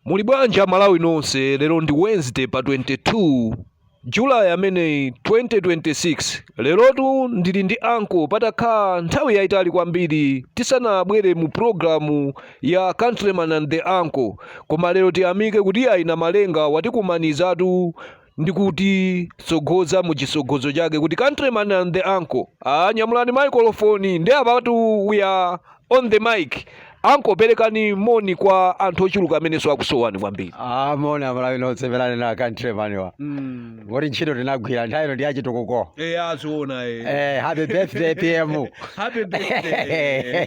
Muli bwanji a Malawi nonse lero ndi Wednesday pa 22 July ameneyi 2026 lerotu ndili ndi anko patakhala nthawi yayitali kwambiri tisanabwere mu programu ya Countryman and the Uncle koma lero tiyamike kuti ayi Namalenga watikumanizatu ndi kutitsogoza mu chitsogozo chake kuti countryman and the uncle ah, nyamulani microphone ndi apatu we are on the mic anko perekani moni kwa anthu ochuluka amenenso akusowani kwambiri Ah, moni amalawi nonse pelani na countryman wa kuti ntchito tinagwira nthawi ino ndi yachitukuko eya aziona eh, happy birthday pm Happy birthday.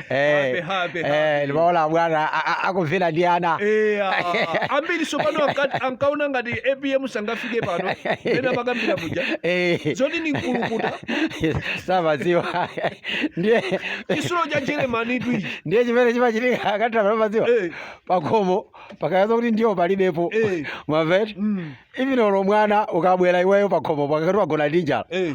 Happy, happy, Eh, happy. ndimaona bwana a- a- akuvina ndi ana Eh, ah, ambiri zapano anka- ankaona ngati apm sangafike pano pena amakambira muja Eh. zoti ndi mkulukuta samaziwa ndiye chitsulo cha jeremani twiji ndiye chimene chimachitika countryman mumaziwa Eh. pakhomo pakayamba kuti ndiwo palibepo Eh. mwamva eti Mm. even olo mwana ukabwera iweyo pakhomo akati wagona ndi njala Eh.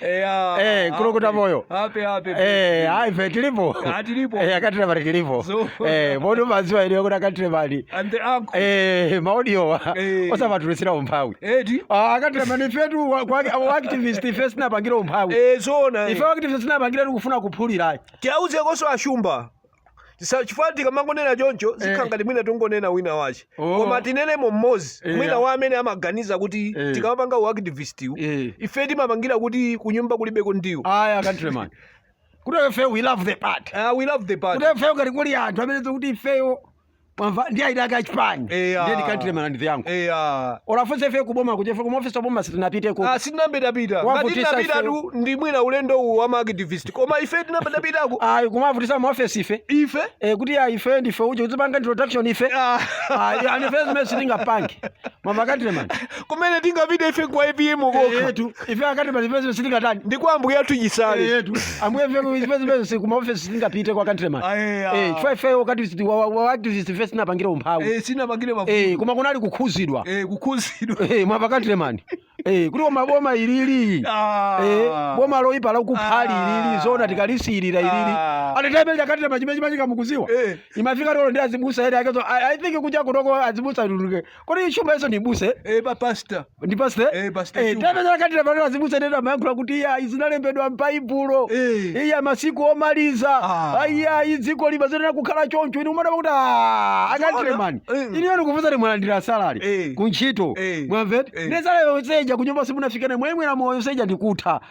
Eya. Eh, kulukuta happy. moyo. Happy, happy. Eh, ayi ife tilipo Ah, tilipo. Eh, countryman tilipo So- Eh, poti maziwa iyeyo kuti countryman And the uncle. Eh, maudiowa Eh. osamatulutsira umphawi Eti. Ah, countryman ifetu wa- kwa- wa uactivist ife sitinapangire umphawi Eh, zona. ife uactivist sitinapangire tikufuna kuphulira ayi Tiauze kaso ashumba. Tisa- chifukwa tikamangonena choncho zikhala Eh. ngati mwina tingonena wina wache Oh. koma tineneno mmodzi Eh, mwina ya. wa amene amaganiza kuti Eh. tikamapanga uactivistiwu Eh. ife timapangira kuti kunyumba kulibeko ndiwo aya countryman kuti ifeyo we love the party Ah, we love the party kuti ifeyo ngati kuli anthu amene tikuti ifeyo mwamva ndi ma die hard achipani Eya. ndiye ndi countryman and the uncle eya olo afunse ife kuboma kuti ife kuma ofisi aboma sitinapiteko Ah, sitinambe tapita ngati Wavutisa tinapita ife. tu ndi mwina ulendo uwu wa maaktivist koma ife tinambe tapitako ayi kumavutisa mu office ife ife Eh, kuti ayi ife ndife uje kuzipanga introduction ife Ah. ayi ndiye zimene sitingapange mwamva countryman kumene tingapite ife kwa apm kokha etu ife countryman pezipezi sitingatani ndi kwa ambuye athu chisale etu ambuye pezipezi ku maofesi sitingapite kwa country man Ayeya. eh chifukwa ife wakati siti- wa- wa- uactivist ife sitinapangire umphawi Eh, sitinapangire mavuto eh koma kunali kukhuzidwa Eh, kukhuzidwa eh mwamva country man eh kuti koma boma ilili Ah. eh boma loipa lakupha ili Ah. ilili zona tikalisirira ilili Ah. atitembele countryman chimene chimachitika mukuziwa Eh. imafika olo ndi azibusa eni akewo i I think kuja kutoko azibusa luluke kodi chuma iwo ndi abusa Eh, pa pastor. ndi pastor Eh, Pastor Chuma. tapezera katira pano azibusa nena amayankhula kuti iya izi zinalembedwa m'baibulo Eh. iya masiku omaliza Ah. iya dziko limayenera kukhala choncho inu umadaba kuti "Ah, countryman Zoona. Eh. inuyo ndikufunseni mwalandira salari Eh. ku ntchito Eh. mwamva eti Eh. nde salari yonse ija kunyumba simunafikane mwamwera mowa yonse ija ndikutha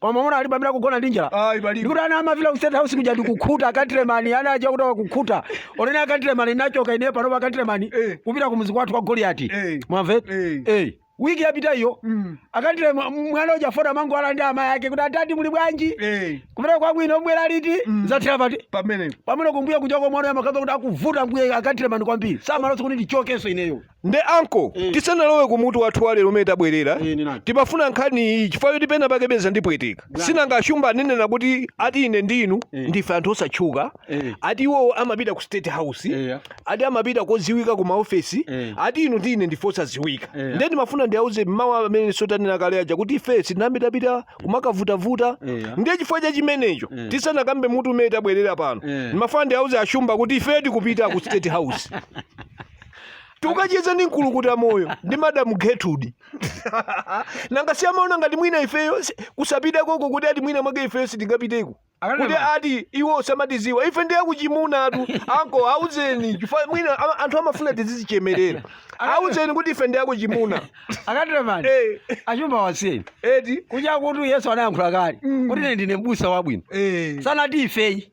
koma mwana alipo amene akugona ndi njala Ayi, palibe. ndikuti ana amapita ku state house kuja ndikukhuta a countryman ana aja kuti akukhuta onene a countryman nachoka ineyo panopa a countryman Eh. kupita ku mudzi kwathu kwa goliyati Eh. mwamva eti Eh. Eh. wiki yapita iyo Mm. akandile mwana uja fota mangu ala ndi amayi ake kuti adadi muli bwanji Eh, kumene kwabwino mbwera liti Mm. zathera pati pamene pamene kumbuya kuchoko mwana yamakhaza kuti akuvuta mbuye a countryman kwambiri samalolanso kuti ndichokenso ineyo nde anko Eh. tisanalowe ku mutu wathu walero umene tabwerera Eh, ninani. timafuna nkhani iyi chifukwa choti pena pake peza ndipweteka Bwana. sinanga ashumba anenena kuti ati ine ndi inu Eh. ndife anthu osatchuka Eh. ati iwowo amapita ku state house Eh. ati amapita kodziwika ku maofesi Eh. ati inu ndi ine ndife osadziwika Eh. nde ndimafuna ndiyauze mawu amene sotanena kale aja kuti ife sitimapitapita kumakavutavuta Eh. ndiye chifukwa cha chimenecho Eh. tisanakambe mutu umene tabwerera pano Eh. ndimafuna ndiyauze ashumba kuti ife tikupita ku state house tukacheza ndi mkulukuta moyo ndi madamu gertrude nanga si amaona ngati mwina ifeyo si- kusapita koko kuti ati mwina mwake ifeyo sitingapiteko Akanena kuti ma- ati iwo samatiziwa ife ndi akuchimunatu anko auzeni chifukwa mwina ama- anthu amafuna tizizichemerera auzeni kuti ife ndi akuchimuna a countryman Eh, ashumba wasiyeni eti kuja kuti yesu anayankhula kale kuti ine ndine mbusa wabwino eh, sanati ife ayi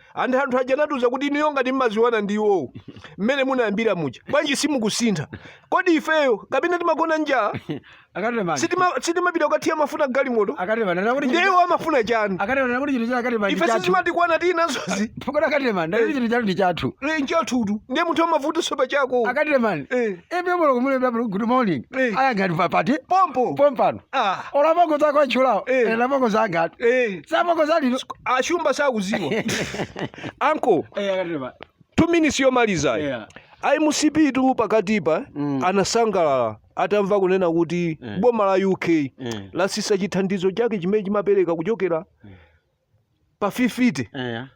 and anthu aja anatiuza kuti inuyo ngati mmaziwana ndi iwowo mmene munayambira muja bwanji simukusintha kodi ifeyo kapena timagona njala a countryman Sitima- sitimapita kukathira mafuta galimoto a countryman nakuti ndiye iwo amafuna chani a countryman nakuti chinthu cha a countryman ife sizimatikwana tili nazozi pokona a countryman nakuti chinthu chathu ndi chathu Eh, nchathutu ndiye munthu amavutanso pa chako a countryman Eh. ebe mulungu mulembera kuti good morning Eh. ayangati papati pompo pompano Ah, olo apongozi ako atchulawo Eh. ena apongozi angatu eh, sapongozi alino ashumba sakuziwa anko two minutes yomaliza Yeah. a mcp tu pakatipa Mm. anasangalala atamva kunena kuti Mm. boma la uk Mm. lasisa chithandizo chake chimene chimapereka kuchokera pa 50 eya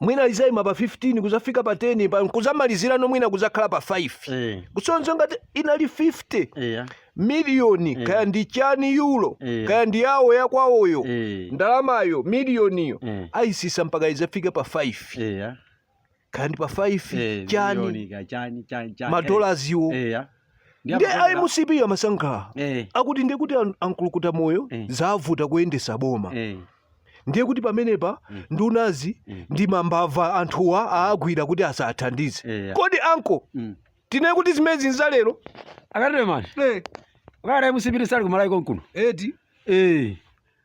mwina lizaima pa 15 kuzafika pa 10 pa kuzamalizirano mwina kuzakhala pa 5 eh kusonza ngati inali 50 eya miliyoni Eh. kaya ndi chani euro Eh. kaya ndi yawo yakwawoyo eh ndalamayo miliyoniyo Eh. ayisisa mpaka izafike pa 5 eya kaya ndi pa 5 eh, chani miliyoni kaya chani chani chani madolaziwo eh, ya ndi Ndiye a mcp amasangalala eh akuti ndiye kuti an- ankulukuta moyo Eh. zavuta kuyendesa boma eh ndiye kuti pamenepa Mm. ndunazi Mm. ndi mambava anthuwa aagwira kuti asathandize eh ya. kodi anko Mm. tinene kuti zimenezi nzalero a countryman eh a countryman a mcp sali kumalawi konkuno eti eh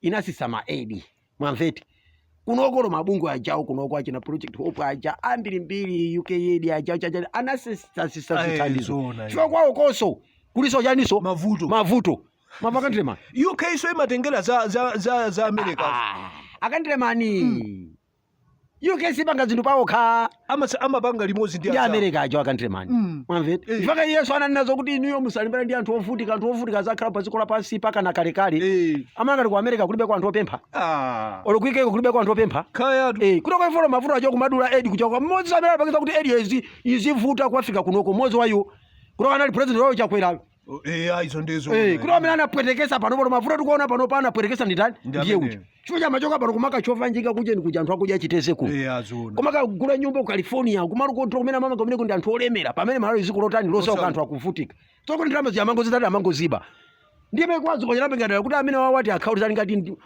inatsitsa ma aid mwamva eti kunoko olo mabungwe ajawo kunoko achina project hope aja ambirimbiri uk aid aja aja aja anatsitsatsitsa Aye, zithandizo zoona, chifukwa kwawo konso kulinso chaninso Mavuto. mavuto mwamva aKandilemani uk nso imatengera za, za, za, za america akandilemani uk siipanga zinthu paokha Amasa- amapanga limodzi ndi ndi anzawo. america ajawo akandilemani Mm. mwamva eti Eh. mpaka yesu ananena zokuti inuyo musalimbana ndi anthu ovutika anthu ovutika azakhala pa dziko lapansi mpaka na kalekale Eh, mumangoti ku america kulibe kwa anthu opempha ah, olo ku uk ko kulibe kwa anthu opempha kaya tu. Eh, kutoka ifolo mavuto ajawo kumadula aid kuchoka mmodzi amene anapangisa kuti aid izi izivuta kuwafika kunoko mmodzi wayo kutoka anali president wayo chakwerayo eya izo ndizo Eh, kuti amene anapwetekesa pano pano mavuto tikuona panopa anapwetekesa ndi ndani Ndi ndiye amene. uti chifukwa chomachoka pano kumakachova njinga kuja ndi kuja anthu akudya chitedze kuno eya zona koma kukagula nyumba ku california kumalo kotola kumene amamanga kumene kuli anthu olemera pamene malawi dziko lotani losauka Osauka. anthu akuvutika zoti ndalamazi amangozitani amangoziba ndiye mekwazi konyera pengadala kuti amene wawati akhauli ali ngati ndi-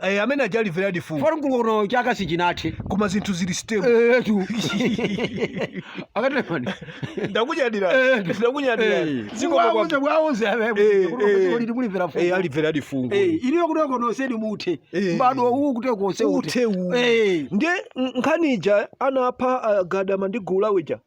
Eh, amene aja alimveradi fungo mkulukutano chaka sichinathe koma zinthu zili stable etu akandilemani ndakunyadira Eh. ndakunyadira Eh. zikomo Wauze, kwakwa wauze, eh, Eh, kuti eh. kuti kuti mulimvera fungo. eh alimveradi fungo Eh, iliyo kuti wakonoseni muthe Eh. mbadwo uwu kuti konse uthe uwu Eh. ndiye n- nkhani ija anapha agadama ndi gule uja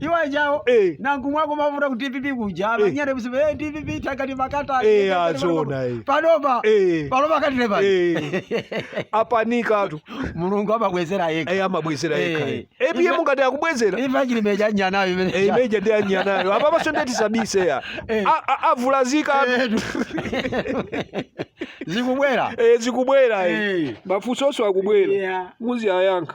iwo ajawo Eh. Nankhumwa ako mafuta ku dpp kuja Eh. amanyera musipe eh, dpp takati makata Eh, takati azona, makata. eh. panopa Eh. panopa katile pano Eh. apanikatu mulungu amabwezera yekha Eh, amabwezera Eh. yekha eh. epiye Ife- mungati akubwezera imfa ya Chilima ija nyanayo imene Eh, imeja ndi anyanayo apa pansonu eti sabisa eya Eh. avulazika Edu. zikubwera Eh, zikubwera eh. Eh. mafunso onse akubwera Yeah. muziwayankha